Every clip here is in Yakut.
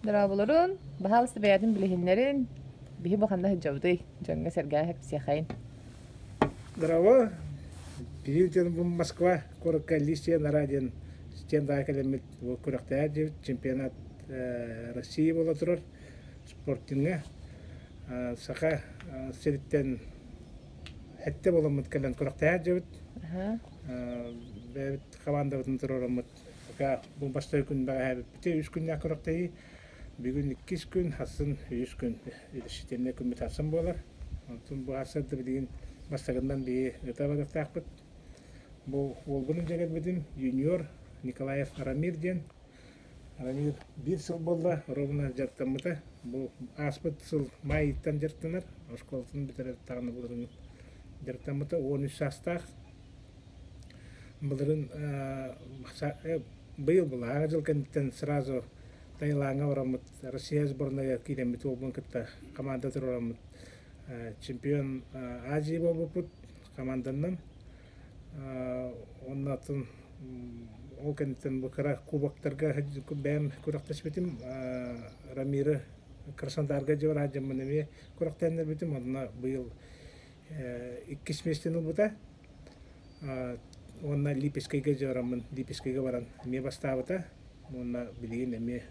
Дорооболорун, баһаалыста бэйэтин билиһиннэрин, биһи бу ханна сылдьабытый? Дьоҥҥо-сэргээҕэ кэпсиэхэйин. Здорово, киһи дьон бу Москва куоракка Лисия Нара диэн стендаҕа кэлэммит күрэхтэһэр диэбит чемпионат Россия буола турар спортиҥҥа Саха сириттэн эттэ буоламмыт кэлэн күрэхтэһэр диэбит. Бэйэбит хамаандабытын туруораммыт бу бастакы күн бэҕэһээбиппитэ үс күннээх күрэхтэһии бүгүн иккис күн хассын үс күн решительный күн бытарсан буолар онтун быһаарсарда билигин бастакыннан биһи ыта барыахтаахпыт бу уолбунун дьэгэлбитим юниор николаев рамир диэн рамир биир сыл буолла ровно дьарыктаммыта бу ааспыт сыл майыттан дьарыктанар оскуолатын бүтэрэр таҕына булуһун дьарыктаммыта он үс саастаах Былырыын быйыл былаһаакка дьыл кэнниттэн сразу Таилаҥҥа бараммыт, Россия сборнайа киирэммит уолбун кытта хамаанда туруораммыт чемпион Азии буолбуппут хамаанданан. Онно атын ол кэнниттэн бу кыра кубоктарга бэйэм күрэхтэспитим. Рамира Краснодарга дьиэ бара сылдьаммын эмиэ күрэхтэһиннэрбитим. Онно быйыл иккис миэстэни ылбыта уонна Липецкэйгэ дьараммын Липецкэйгэ баран эмиэ бастаабыта уонна билигин эмиэ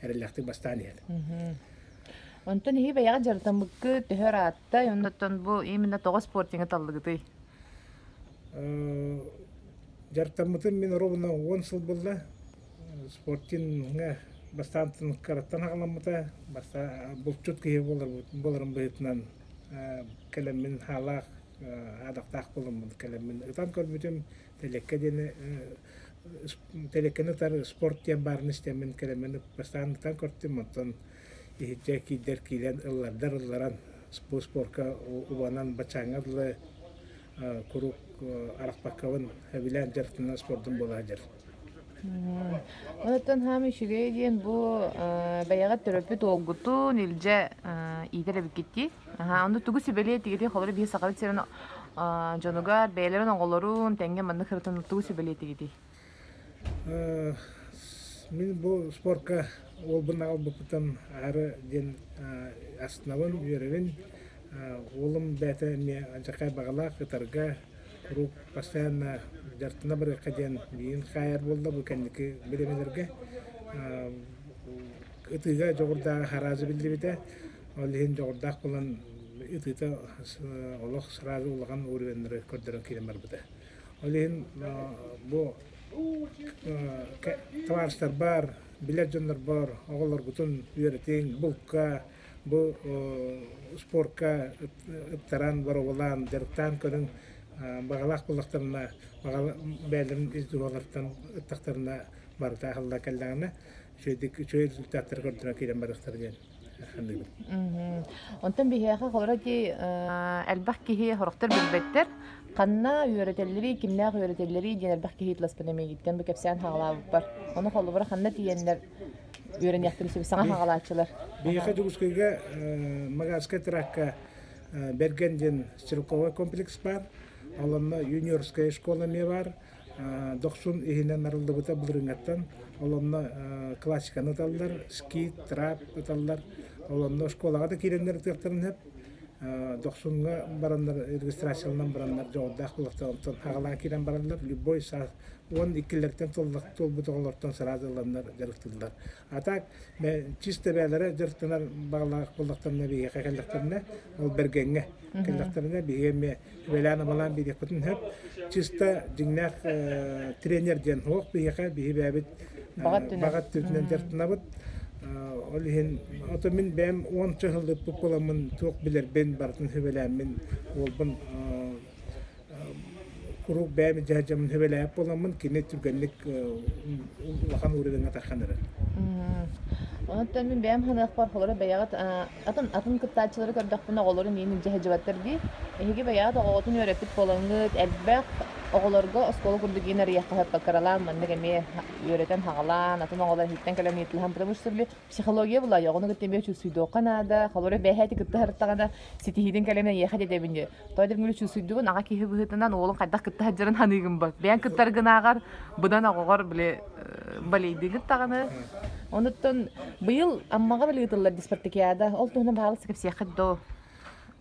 эрэллээхтик бастаан иһэр Онтон иһи бэйэҕит дьарытаммыккыт төһө ырааттай, оннуттан бу именно тоҕо спортиҥҥа таллыгытый? Дьарытаммытым мин ровно уон сыл булла. спортивнҥа бастаан кыраттан аҕаламмыта булчут киһи буоларым быһыытынан кэлэммин хаалаах аадахтаах буоламмын кэлэммин ытан көрбүтүм тэлиэккэ диэни тэлиэккэни утары спорт диэн баарын истэммин кэлэммин бастаан ытан көртүм оттон иһирдьэ киирдэр киирэн ыллардар ылларан бу спорка убанан бачааҥҥа дылы куруук арахпаккабын сөбүлээн дьарыктанар спордум буола сылдьар Оттон хаама үчүгэй диэн бу бэйэҕэ төрөппүт уолгутун илдьэ иитэр эбиккиттии. Аһаа, ону тугу сүбэлиэ тигитий холоро бии сахабыт сирин дьонугар бэйэлэрин оҕолорун тэҥҥэ маннык сырытын тугу сүбэлиэ тигитий? Мин бу спорка уолбун аҕалбыппытым аһары диэн астынабын, үөрэбин. Уолум бэйэтэ эмиэ дьакай баҕалаах ытарга куруук постоянно дьарыктана барыахха диэн миин хаайар буолла бу кэнники бириэмэлэргэ ытыыга дьоҕурдааҕы хараажы биллибитэ ол иһин дьоҕурдаах буолан ытыыта олох сразу улахан уурүһүөннэри көрдөрөн киирэн барбыта ол иһин бу табаарыстарбар билэр дьоннорбор оҕолоргутун үөрэтиҥ булка Бу спорка ыттаран, боробулаан, дьарыктаан көрүн баҕалаах буллахтарына, баҕала бээлэрин ис дууһалартан ыттахтарына барыта аһылла кэллэҕинэ, үчүгэйдик үчүгэй результаттары көрдөрө киирэн барыахтар диэн саныыбын. Онтон биһиэхэ холоро дии элбэх киһи сорохтор билбэттэр ханна үөрэтэллэрий, кимнээх үөрэтэллэрий диэн элбэх киһи ытласпын эмиийиттэн бу кэпсээн хаалаабыппар. Ону холобура ханна тиийэннэр үөрэниэхтим сиби саҥа хаҕалааччылар биһиэхэ дьокуускайга магарскай тракка берген диэн стрелковый комплекс баар олонно юниорская школа эмиэ баар дохсун иһинэн арыллыбыта былырыҥаттан олонно классиканы ыталлар скит трап ыталлар олонно школаҕа да киирэннэр ытыахтарын сөп дохсуҥҥа бараннар регистрацияланан бараннар дьоҕурдаах буолуохтар онтон хаҕалаан киирэн бараллар любой уон иккилэртэн туолбут оҕолортон сразу ыланнар дьарыктыыллар. А так чисто бээлэрэ дьарыктанар баалаах буллахтарына биһиэхэ кэллэхтэринэ ол бэргэҥҥэ кэллэхтэринэ биһиги эмиэ үбэлээн амалаан биэриэхпитин сөп чисто дьиҥнээх тренер диэн суох биһиэхэ биһи бэйэбит баҕа өттүнэн дьарыктанабыт ол иһин ото мин бэйэм уонча сыллыппыт буоламмын туох билэрбин барытын сүбэлээммин уолбун куруук бэйэм дьаһдьаммын сөбүлээбит буоламмын кини түргэнник улахан ууригыҥҥа тархан эрэр Онтон мин бэйэм ханыахпар холоро бэйэҕит атын атын кыттааччылары көрдөхпүнэ оҕолорун иин илдьэһэдьибэттэр дии эһиги бэйэҕит оҕоҕутун үөрэппит буолаҥҥыт элбэх оҕолорго оскуола курдук иин арыйахха сыппаккаралаан маннык эмиэ үөрэтэн хаҕалаан атын оҕолор иһиттэн кэлэн ыйытылаһан потому что психология булайа оҕону кытта эмиэ чувствуйдуохха наада холоро бэйэһэти кытта харыттаҕына Ситиһиитин кэлэмин эйиэхэ дэдэбин диир. Той дэр мүлү чусуйдубун аҕа киһи быһыытынан уолун хайдах кытта сылдьарын ханыыгын бат. Бэйэн кыттар гынааҕар быдан оҕоҕор били балейдыы кыттаҕыны. Онуттан быйыл Аммаҕа били ыытыллар диспартикиада ол туһунан баһаалыста кэпсиэххит доо.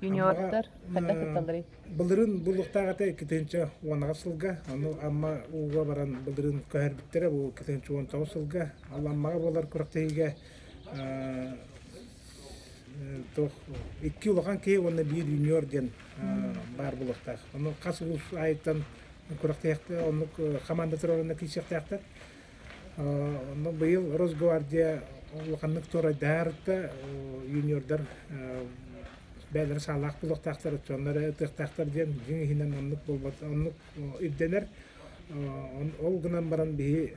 Юниордар хайдах кытталларый? Былырын буллуктаах ата иккитинчи уонаҕа сылга, аны Амма ууга баран былырын көһөрбүттэрэ бу иккитинчи уон тоҕус сылга, ал Аммаҕа буолар күрэхтэһиигэ Туох икки улахан киһи уонна биир юниор диэн баар буолуохтаах. Ону хас улуус аайыттан күрэхтэһиэхтэр, оннук хамаандалар уонна киирсиэхтээхтэр. Онно быйыл Росгвардия улаханнык туорайдаһарыттта юниордар бэйэлэрэ саалаах буолуохтаахтар, оттоннор ытыахтаахтар диэн дьиҥ иһинэн оннук буолбат, оннук ирдэнэр. Ол гынан баран биһи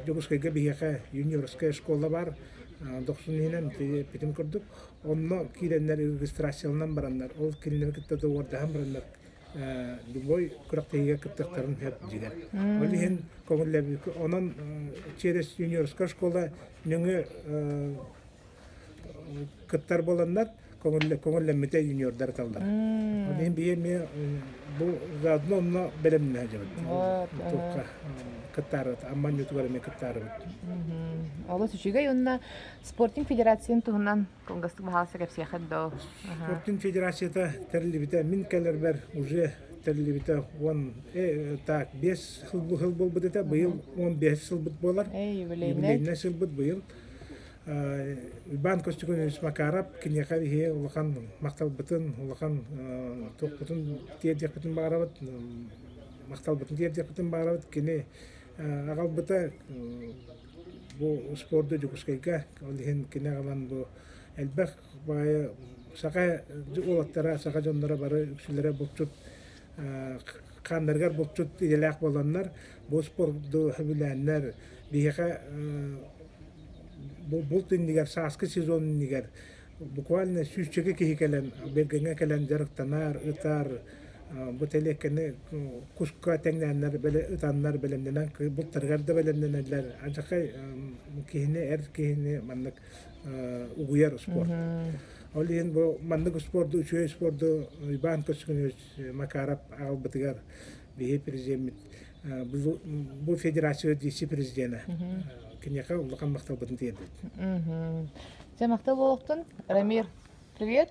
Дьокуускайга биһиэхэ юниорская школа баар. Дохсун иһинэн питим курдук. Онно киирэннэр регистрацияланан бараннар, ол кинилэри кытта доуордаһан бараннар любой күрэхтэһиигэ кыттыахтарын сөп дигэр. Ол иһин көҥүллэбит. Онон через юниорская школа нөҥө кыттар буоланнар көҥүллэммитэ юниордар эталлар. Ол иһин бии эмиэ бу заодно онно бэлэмнэһэ дьабыт. Туохха кыттаарыбыт, амманньытыгар эмиэ кыттаарыбыт. Олус үчүгэй уонна спортинг федерациятын туһунан кылгастык баһаалыста кэпсиэххит доо. Спортинг федерацията тэриллибитэ мин кэлэрбэр уже тэриллибитэ он так бес хыл бу хыл болбут этэ быйыл он бес сылбыт болар юбилейный сылбыт быйыл Иван Костюкович Макаров киниэхэ иһи улахан махталбытын, улахан туохпутун тиэрдиэхпитин баарабыт, махталбытын тиэрдиэхпитин баарабыт. Кини аҕалбыта бу спорду Дьокуускайга, ол иһин кини аҕалан бу элбэх баайа саха уолаттара саха дьонноро бары үксүлэрэ булчут хааннарыгар булчут идэлээх буоланнар бу спорду сөбүлээннэр биһиэхэ булт иннигэр сааскы сезон иннигэр буквально сүүсчэкэ киһи кэлэн Бергаҥҥа кэлэн дьарыктанар ытар бу тэлиэккэни куска тэҥнээннэр ытаннар бэлэмнэнэн бултарыгар да бэлэмнэнэллэр адьахай киһини эр киһини маннык угуйар спорт. Ол иһин бу маннык спорду, үчүгэй спорду Иван Кочкинович Макаров аҕалбытыгар биһи президеммит бу федерация вице-президенэ киниэхэ улахан махталбытын тиэрдит. Дьэ махтал буолуохтун. Рамир, привет.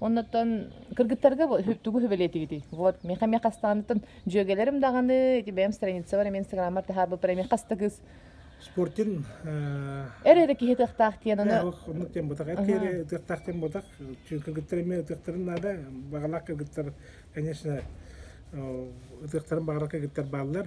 Оннотон кыргыттарга тугу хүбэлиэтигитий? Вот, миэхэ миэх хастаҕаныттан дьүөгэлэрим даҕаны, бэйэм страница бар, мен инстаграммар таһаарбыппар эмиэ хаста кыс Спортин эр эрэ киһи тыахтаах диэн ону оннук тем бутах эткери тыахтаах тем бутах кыргыттар эмиэ ытыахтарын наада баҕалаах кыргыттар конечно ытыахтарын баҕалар кыргыттар бааллар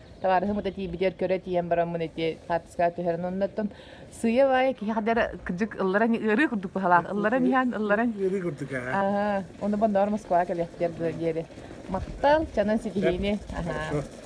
табаарыһым да тиийбитигэр көрө тиийэн бараммын ити хаартыскаҕа түһэрэн оннуттан сыыйа баайа киһи хадар кырдьык ылларан ырыы курдук баһалаах ылларан иһээн ылларан Ыарыы курдук аһа. аһаа ону бонноор москваҕа кэлиэхтиэр дуо диэри махтал чанан ситиһиини аһаа